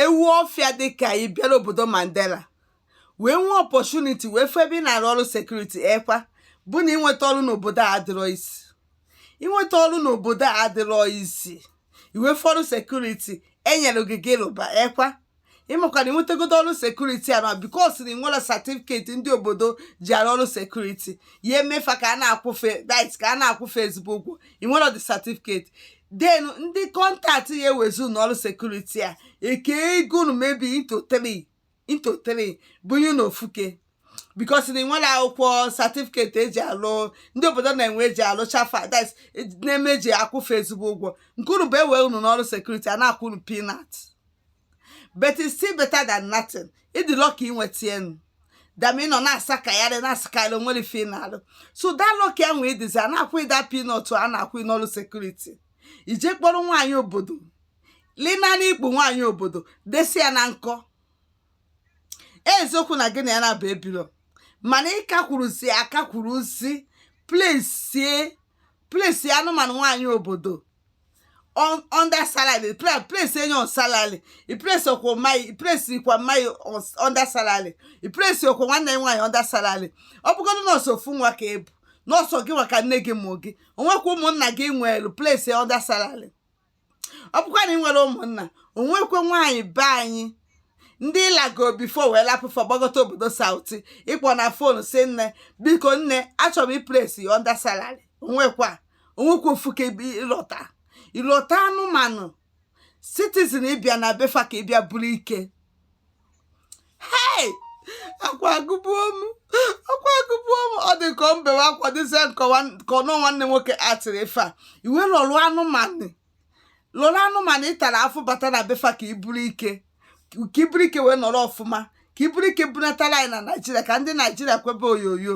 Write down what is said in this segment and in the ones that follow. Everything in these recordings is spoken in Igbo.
ewu ọfịa dịka ị bịara obodo Mandela wee nwee opportunity wee fụ ebe ị na-arụ ọrụ security ekwa bụ na inweta ọrụ n'obodo a adịrọ easy inweta ọrụ n'obodo a adịrọ easy i wee fụ ọrụ security e nyere gị gị rụba ekwa ị makwa na i nwetagodo ọrụ security a na because na i nwerọ certificate ndị obodo ji arụ ọrụ security ya eme fa ka a na-akwụ fa dit ka a na-akwụ fa ezigbo ụgwọ i nwerọ the certificate then ndị contact ya ewezi unu n'ọrụ security a e kee ego unu maybe into three into three bunye na ofuke because na i nwerọ akwụkwọ certificate eji alụ ndị obodo na-enwe eji alụ chafa that na-eme eji akwụ fa ezigbo ụgwọ nke unu bụ e wee unu n'ọrụ security a na-akwụ unu peanut but it's still better than nothing ị dị lucky inweta enu than ị nọ na-asakagharị na-asakagharị o nwerọ ife ị na-alụ so that lucky ahụ ị dịzi a na-akwụ gị that peanut a na-akwụ n'ọrụ security i jee kpọrọ nwaanyị obodo lina n'ikpu nwaanyị obodo desi ya na nkọ eziokwu na gị na ya na-abụ ebirọ mana ịka kwuruzi aka kwuruzi place place anụmanụ nwaanyị obodo on under salary place place nne ya on salary i place okwo mai i place ikwa mai on under salary i place okwo nwanne nwaanyị under salary ọ bụgodu na ọ sọ ofu nwa ka ị bụ na ọ sọ gị nwa ka nne gị mụ gị o nwekwa ụmụnna gị nwere place under salary ọ bụkwa na ị nwere ụmụnna o nwekwa nwaanyị be anyị ndị ị lago before wee lapụ fa gbagota obodo South ị kpọọ na phone sị nne biko nne achọrọ m i place gị under salary o nwekwa o nwekwa ofuke ị lụta ị lụta anụmanụ citizen ị bịa na be fa ka ị bịa buru ike hei akwa agụbuo m akwa agụbuo m ọ dị ka m bewe akwa dịzie ka ọnụ nwanne nwoke atịrị ife a i wee lụrụ anụmanụ lụrụ anụmanụ ị tara afụfụ bata na be fa ka i buru ike ka i buru ike wee nọrọ ọfụma ka i buru ike bunatara anyị na naijiria ka ndị naijiria kwebe oyoyo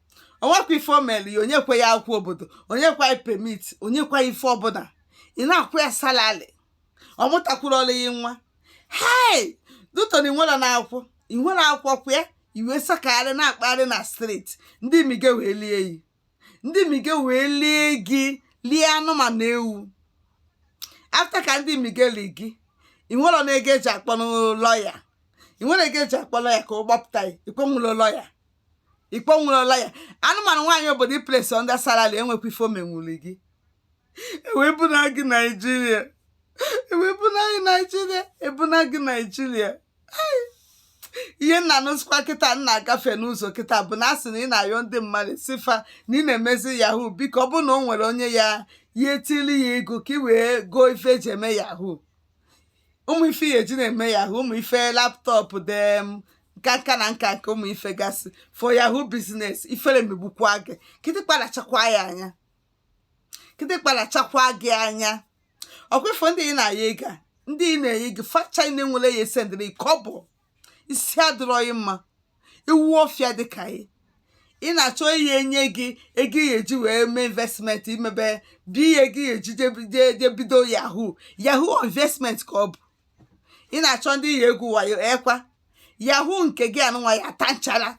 o nwekwa ife o mere ya o nyekwa ya akwụkwọ obodo o nyekwa ya permit o nyekwa ife ọbụla ị na-akwụ ya salary ọ mụtakwuru gị nwa hei due to na i nwerọ na akwụ i nwerọ akwụkwọ kwa ya i wee sakagharị na-akpagharị na street ndị mige wee lie gị ndị mige wee lie gị lie anụmanụ ewu after ka ndị mige li gị ị nwere na ego eji akpọ lawyer ị nwere ego eji akpọ lawyer ka ọ gbapụta ya ị kwụnwulọ lawyer ikpo nwụrụla ya anụmanụ nwaanyị obodo i place under salary enwekwa ife o menwuli gị e wee buna gị naijiria e wee buna gị naijiria ebuna gị naijiria ihe m na-anụzikwa kịta m na-agafe n'ụzọ kịta bụ na asị na ị na-ayọ ndị mmadụ sị fa na ị na-emezi yahoo biko ọ bụrụ na o nwere onye ya ya etili ya ego ka ị wee goo ife eji eme yahoo ụmụ ife ya eji na-eme yahoo ụmụ ife laptop dem nka nka na nka nke ụmụ ife gasị for yahoo business ifere megbukwa gị kịtịkpa lachakwa ya anya kịtịkpa lachakwa gị anya ọ kwa ị fụ ndị ị na-ayọ ego ndị ị na-enye gị fa ncha nwere ya esendịrị kọbọ isi adịrọghị mma ewu ọfịa dị ka ị ị na-achọ ihe enye gị ego ị ya-eji wee mee investment ị mebe bụ ihe gị eji je bido yahoo yahoo investment ka ọ bụ ị na-achọ ndị ị ya-egwu wayo ekwa yahoo nke gị a nụnwa ya-ata nchara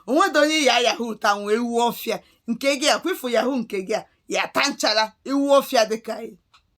o nwedo onye ya yahoo tanwu ewu ọfịa nke gị ọ kwa ị fụ yahoo nke gị a ya-ata nchara ewu ọfịa dịka gị